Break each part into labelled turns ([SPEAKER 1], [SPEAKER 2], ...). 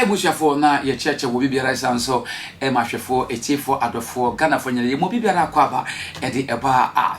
[SPEAKER 1] abusuafoɔ na yɛkyerɛkyerɛ wɔ biribiara ɛsan nso ɛma ahwɛfoɔ ɛtiefoɔ adɔfoɔ ghanafoɔ nyina yɛ mu biribiara akɔ aba ɛde ɛbaa a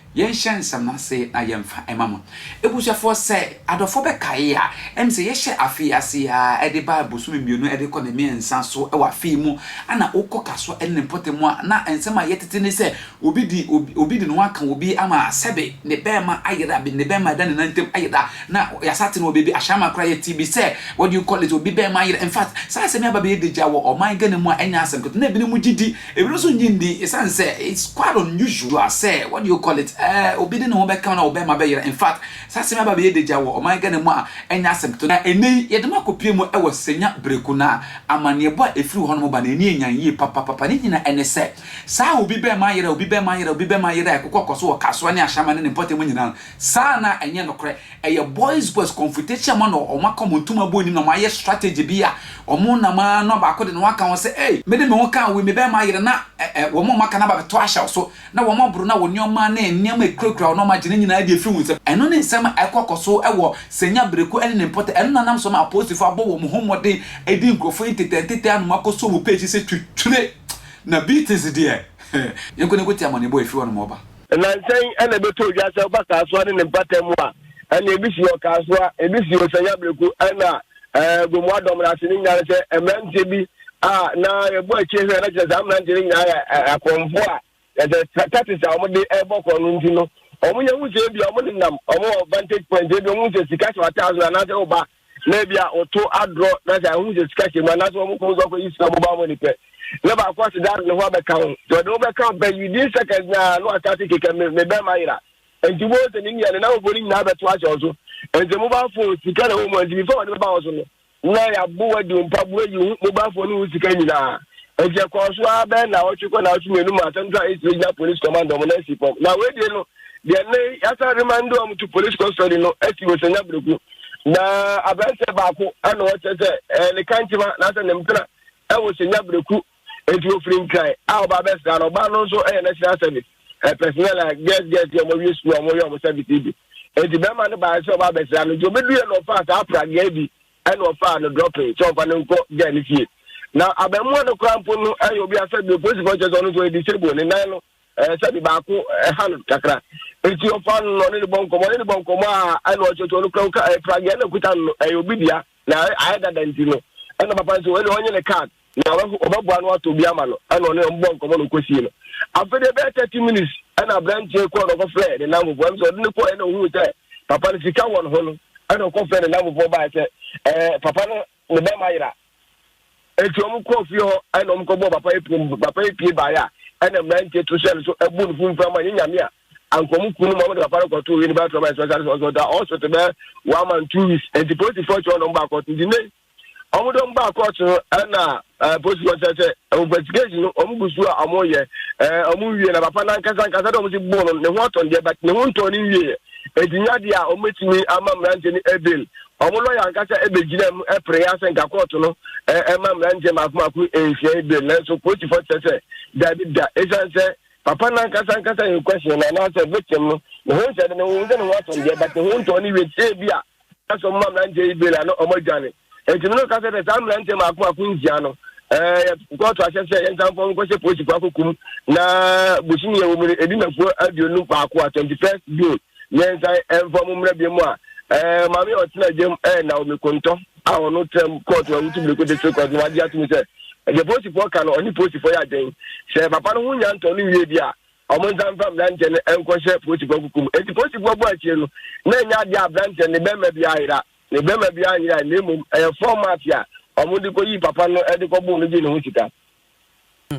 [SPEAKER 1] Yɛnhyɛ nsɛm no ase na yɛmfa mma mo. Abusuafoɔ, sɛ adɔfoɔ bɛkae a, ɛne sɛ yɛhyɛ afe yi ase ara de ba bosome mmienu de kɔ ne mmiɛnsa so wɔ afe yi mu, ɛna wokɔ ka so ne ne mpɔtam a, na nsɛm a ɛyɛ tete ne sɛ obi de obi de ne ho aka obi ama sɛbe ne bɛrima ayera bi, ne bɛrima da ne nan ntam ayera, na yɛasate no wɔ baabi, Ashaiman koraa yɛtee bi sɛ what do you call it, obi bɛrima ayera. In fact, saa asɛm yi aba abɛyɛ dagya wɔ ɔman Ghana mu a ɛnyɛ asɛm ketewa, na ebinom gye di Ebinom nso nnye nni esiane sɛ it's quite unusual sɛ what do you call it eh, obi de ne ho bɛka wo na wo bɛrima bɛyera. In fact, saa asɛm yi aba abɛyɛ dagya wɔ ɔman Ghana mu a ɛnyɛ asɛm ketewa. Na ɛnnɛ yi, yɛde mo akɔpue mu wɔ Senya Breku na amanneɛbɔ a ɛfiri hɔnom ba no, ani anyan yie papapapa. Ne nyinaa ne sɛ, saa obi bɛrima ayera, obi bɛrima ayera, obi bɛrima ayera a ɛkokɔ kɔ so wɔ Kasoa ne Ashama ne ne mpɔtam nyinaa no, saa anaa ɛnyɛ nokorɛ? Ɛyɛ boys boys confrontation ma na wɔn aka wɔn ntoma abu anim na wɔn ayɛ strategy bi a wɔn nam ara na baako de ne ho aka ho sɛ ei me de me ho kaa wei me bɛrima ayere na ɛ ɛ wɔn a wɔn aka no aba bɛto ahyɛ wo so na wɔn aboro na wo nneɛma ne nneɛma a ɛkurakura wo na wɔn agye ne nyinaa de afiri wo nsam. Ɛno ne nsɛm a ɛkɔ kɔ so wɔ Senya Breku ne ne mpɔtam. Ɛno na nam so ma apolisifo abɔ wɔn ho mmɔden de nkurɔfo ntetɛ ntetɛ anom akɔsɔ wɔn page sɛ twitwire na beatings deɛ yɛnko na yɛnkɔtie amanneɛbɔ a ɛfiri hɔnom ɔba. Nnansa yi
[SPEAKER 2] na ɛbɛtɔɔ dwa sɛ woba Kasoa ne ne mpata mu a, ɛnna ebi si Ɔkasoa, ebi si Osanya Breku, ɛnna Gomoa Adomena ase no nyinaa ne sɛ mmeranteɛ bi a na yɛbɔ akyire hwɛ na kyerɛ saa mmeranteɛ no nyinaa yɛ akorɔmfoɔ a yɛsɛ tactics a wɔde ɛbɔ korɔ no nti no wɔn nyɛ ho sɛ ebi wɔn nenam wɔn wɔ vantage point ebi wɔn sɛ sika hyɛ wɔn ataase anaasɛ wɔba na ebi a ɔto adorɔ na sɛ ahun sɛ sika hyɛ mu anaasɛ wɔn kɔn so akɔyi sika mobile money pɛ na baako ase da ne ho abɛka ho sɛ ɔde ho bɛka ho pɛ within seconds na na wasa ase keka me me bɛrima yera nti mo sɛ ne nua ne n'ahofoɔ no nyinaa bɛto ahyɛ ɔso nti mobile phone sika na wɔn mu nti before wɔde bɛba ɔso no na yɛabo wadi mpa bo ayi ho mobile phone ho sika nyinaa nti ɛkɔɔ so ara bɛn na ɔtwe kɔ na ɔtwe mmienu mu asɛm so a ɛsi gyina police command ɔmo na ɛsi fam na wɔadie no deɛ nnɛ yi yɛasan remande wɔn to police custody no asi wɔ sanya berɛku na aberanteɛ baako na wɔkyerɛ sɛ eh, ne kankyema naasɛ ne mpena wɔ sanya berɛku nti wɔfiri nkran a ɔba bɛsra no ɔba no nso yɛ national service eh, personnel a girls girls yɛ ɔmɔwie sukuu a ɔmɔyɛ ɔmɔ service yi bi nti bɛrima no baeɛ sɛ ɔba bɛsra no nti ɔbɛduɛ na ɔfaa saa prageɛ bi ɛna ɔfaa no dropping sɛ ɔmfa no nkɔ girl no fie na abɛmmoa no koraa mpo no ɛyɛ obi asɛ bi polisifoɔ kyerɛ sɛ ɔno nso yɛ disable ne nan no ɛɛ sɛ de baako ɛha no kakra nti ɔfa no na ɔne ne bɔ nkɔmɔ ɔne ne bɔ nkɔmɔ a ɛna ɔkyɛkyɛ ɔno kura ɛɛ pragi ɛna kuta no ɛyɛ obi dea na ayɛ dada nti no ɛna papa nso ɛna ɔnye ne card na ɔbɛboa no ato bi ama no ɛna ɔne ɔmo bɔ nkɔmɔ na ɔkɔsie no afei de bɛyɛ thirty minutes ɛna aberanteɛ kɔɔ na ɔkɔfrɛ ne nam fofoɔ ɛna ɔde ne kɔɔ ɛna ohun sɛ papa no sika wɔ ne ho no ɛna ɔkɔfrɛ ne nam fofoɔ baa sɛ ɛɛ papa no ne bɛrima yera. Enti wɔn kɔɔ fie hɔ ɛna wɔn kɔbɔɔ papa yi pum. Papa yi pie baeɛ a ɛna mmeranteɛ to hyɛ no so abu no fumfam ma nyɛ nyame a anka wɔn kunu ma wɔn de papa no kɔtoo wei ne bɛyɛ trauma ɛsɛ ɔsare sɛ ɔsɛ ɔda ɔsɔte bɛyɛ one month two weeks. Enti polisifoɔ kyerɛ wɔn na wɔn baa kɔɔto nti nnɛ wɔn de wɔn baa kɔɔto no ɛna Eh, posi hɔ sɛ sɛ investigation no ɔmo gu so a ɔmo yɛ eh, ɔmo nwie na papa no ankasa ankasa dɛ ɔmo si bɔɔ no ne ho atɔn deɛ but ne ho ntɔn ne nwieɛ enti nyɛ adeɛ a ɔmo bɛtumi ama mmeranteɛ no ɛbel ɔmo lɔya ankasa ɛbɛgyina mu ɛpere asɛ nka kɔɔto no eh, ɛma mmeranteɛ maako maako ɛnhyia ɛbel nanso polisifoɔ kyerɛ sɛ daabi da ɛsiane sɛ papa no ankasa ankasa yɛ question no anaasɛ victim no ne ho nsɛ de ne ho sɛ ne ho atɔn deɛ but ne ho ntɔn ne wie sɛ bi a Ɛka sɛ ɔmoma mmeranteɛ yi bela na ɔmɔ adwane. Enti me no ka sɛ sɛ saa mmeranteɛ maako maako nsia no, ɛɛ kɔɔto ahyɛ sɛ yɛn nsanfɔ nkɔ sɛ polisifoɔ akɔkum na bosom yɛ wɔ mu no ɛdi nafuo aduonu baako a twenty first June yɛn nsan ɛmfa mu mmerɛ bi mu a ɛɛ maame ɔtena gyam ɛɛ na omi kontɔ a ɔno tena mu kɔɔto awutu biriko district court no wagye atum sɛ ɛdeɛ polisifoɔ ka no ɔne polisifoɔ yɛ adwen sɛ papa no ho nya ntɔ no wie bi a Wɔn nsa mfa aberanteɛ no nkɔhyɛ polisifoɔ kuku mu. Enti polisifoɔ bɔ akyire no, na ɛnyɛ adeɛ a aberanteɛ no ne barima bi ayera. Ne barima bi anyera, na mmom ɛyɛ fɔm ate a wɔn de kɔyii papa no de kɔboo no gyee ne ho sika. Hmm.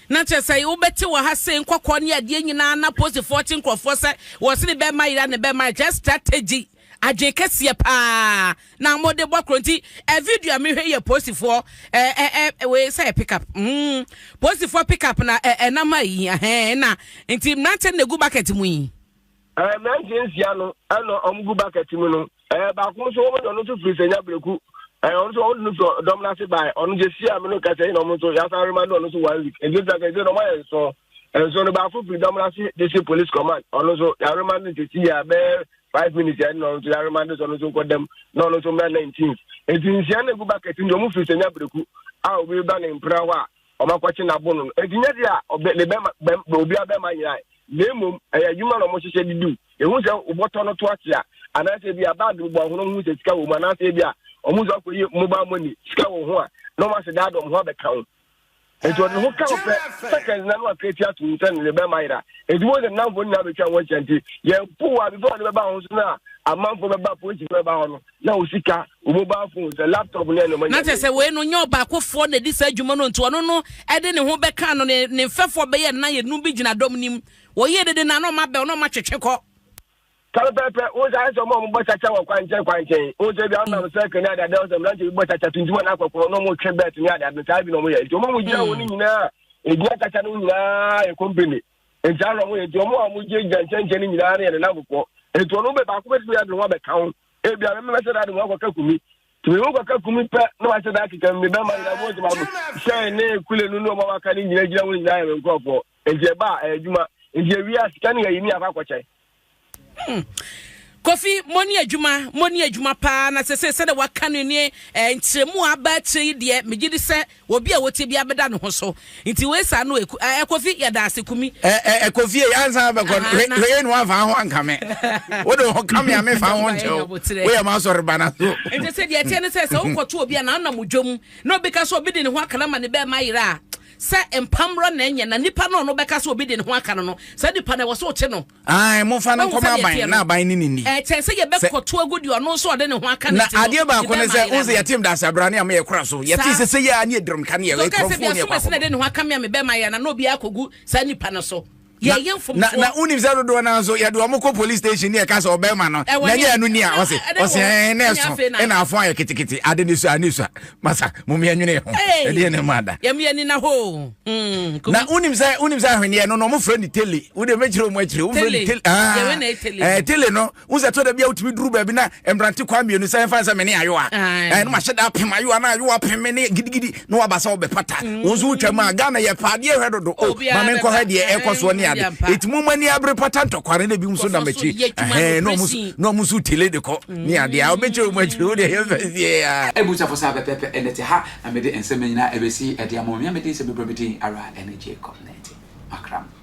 [SPEAKER 3] na kyerɛ sɛ wobɛte wɔ ha se nkɔkɔɔ ne adeɛ nyinaa na posifoɔ kye nkurɔfoɔ sɛ wɔse ne bɛma yera ne bɛma kyerɛ strategy Adwen kɛseɛ paa na mo de bɔ koro nti ɛ video a mehwɛ yɛ polisifoɔ ɛ ɛ ɛ wei sɛ yɛ pick up mm polisifoɔ pick up na ɛ ɛnam ayi ɛhɛn na nti mmeranteɛ na egu bucket mu yi. Ɛɛ mmeranteɛ
[SPEAKER 2] nsia no ɛna wɔn gu bucket mu no ɛɛ baako nso wɔn de ɔno nso firi sɛnya breku ɛɛ ɔno nso wɔn de no firi dɔm n'ase baa ɔno gye si a mi no kɛse na ɔmo nso yasa rema no ɔno nso one week nti nsa kɛse na ɔmo ayɛ nso nso no baako firi dɔm n'ase de si police command ɔno nso yare ma no nti si yɛ abɛɛ. five minutes ɛne na ɔno nso yɛarema ne sɛ ɔno nso nkɔ dam na ɔno nso mmra nineteenth nti nsia no egu bucket nti ɔmo firi sɛ nya bereku a obi ba ne mpena hɔ a ɔmo akɔkye n'abo no nti nya de a ɔbɛ ne bɛma bɛm obi abɛma nyinaa na emom ɛyɛ adwuma na ɔmo hyehyɛ de diw ehu sɛ ɔbɔtɔ no to akyea anaasɛ ebi a baag no bɔ ahono ho sɛ sika wɔ mu anaasɛ ebi a ɔmo nso akɔyɛ mobile money sika wɔ ho a na ɔmo asɛ daa dɔm ho abɛka ho Enti ɔde ne ho ka wo pɛ seconds na no akra ti ato mu sɛ ne bɛma yera. Enti wɔn sɛ nnamfo nyinaa bɛtwa wɔn ahyia nti yɛn po wɔ abifo a ne bɛba ho so no a amanfo bɛba polisi bɛba hɔ no na wo sika wo mobile phone sɛ laptop ne ɛnoma nyinaa. Na kyerɛ sɛ wei no nyɛ
[SPEAKER 3] ɔbaakofoɔ na ɛdi saa adwuma no nti ɔno no ɛde ne ho bɛka no ne mfɛfoɔ bɛyɛ nna yɛnum bi gyina dɔm nim wɔyɛ dede na na ɔma bɛ ɔno ɔma twetwe kɔ. pɛpɛpɛ
[SPEAKER 2] wo sɛ ayɛ sɛ ɔma ɔmobɔ kyakya wɔ kwankyɛn kwankyɛn wo sɛ bia wonam mm. sɛke ne adeade wo sɛ mmerante bi bɔ kyakya tuntum ana akɔkɔɔ na ɔmotwe bɛt ne adeade no saa bi na ɔmoyɛ nti ɔma mu gyina wɔ no mm. nyinaa ɛgyina kyakya no nyinaa yɛ company nti ana ɔmoyɛ nti ɔmo a ɔmogye gyina nkyɛnkyɛn no nyinaa no yɛ ne namfofoɔ nti ɔno bɛ baako bɛtumi ade ho abɛka ho ebia memɛsɛ dade mu akɔka kumi tumi mu kɔka kumi pɛ na wahyɛ da akeka mu ne bɛma nyina mu ɔgyema mu hyɛn ne kule no ne ɔma waka ne nyina gyina wo nyinaa yɛ me nkurɔfoɔ nti ɛba a ɛyɛ adwuma nti awia sika ne yɛyi ne akɔ akɔkyɛn Hmm.
[SPEAKER 3] Kofi, moni adwuma, moni adwuma paa na sese sɛ de waka no nie eh, nkyerɛmu a aba akyerɛ yi deɛ megye di sɛ obi a wɔtie bi abɛda ne ho so nti wei saa no ɛku eh, Kofi yɛda ase kumi eh, eh, eh, Kofi yɛ
[SPEAKER 4] ansa bɛkɔ no hwɛ yɛ no amfa ho anka me wode ho ka me a mefa ho nkyɛw woyɛ ma asɔre ba no so nti sɛ deɛ ɛteɛ no sɛ
[SPEAKER 3] sɛ wokɔto obi a na wonam odwam na obi ka sɛ obi de ne ho akana ma ne bɛɛma yerɛ a Sɛ mpa mmra na ɛnyɛ na nipa no ɔno bɛka sɛ obi de ne ho aka no no, saa nipa no ɛwɔ sɛ ɔkye no. Ae, momfa no nkɔma
[SPEAKER 4] aban na aban ne ne nni. Ɛkyɛn sɛ yɛbɛkɔto
[SPEAKER 3] agu deɛ ɔno nso ɔde ne ho aka no ti no. Na adeɛ baako ne sɛ,
[SPEAKER 4] wohu sɛ yɛtem da asabrane a meyɛ kora so, yɛte sɛ sɛ yɛ a ne yɛdirim ka ne yɛ kurɔfoɔ ne yɛ kwafoɔ. Sɛ obi asomasi na ɛde ne ho aka me
[SPEAKER 3] a
[SPEAKER 4] mebɛma
[SPEAKER 3] yɛ na na obiara akɔgu saa nipa no so. yɛyɛ mfomsoɔ na
[SPEAKER 4] wonim sɛ dodoɔ no nso yɛde ɔmo kɔ police station ne yɛka sɛ ɔbɛrima no na nyɛ ɛno ni a ɔse ɔse ɛn na ɛso ɛna afo ayɛ ketekete ade ne sua ne sua masa momeɛ nwene ho ɛdeɛ ne ma da yɛmeɛ nina hoo
[SPEAKER 3] hmm, na wonim
[SPEAKER 4] sɛ wonim sɛ ahweneɛ no na ɔmo frɛ ne tele wode mɛkyerɛ ɔmo akyerɛ wo frɛ ne tele ah, eh,
[SPEAKER 3] tele no wo sɛ ɛtɔ
[SPEAKER 4] da bi a wotumi duru baabi na mmerante kwa mmienu sɛ ɛmfa sɛ mene ayowa ɛno eh, mahyɛ da apem ayowa na ayowa pem me ne gidigidi na waba sɛ wobɛpata mm. wo nso wotwa mu a ghana yɛ paa deɛ hwɛ dodo o ma menkɔ hɛ deɛ ɛkɔ soɔ ne ade ɛtumi ma ni abere pata ntɔkware na bi nso nam akyiri na ɔmo nso tele de kɔ mm. ne adeɛ a wobɛkyerɛ wo mu akyiri wo deɛ yɛmfa sie a abusafo sɛ abɛpɛpɛ
[SPEAKER 1] ɛnɛ te ha na mede nsɛm nyinaa ɛbɛsi ɛde ama mea mede sɛ bɛbrɛ me din ara ɛne jacob nante makram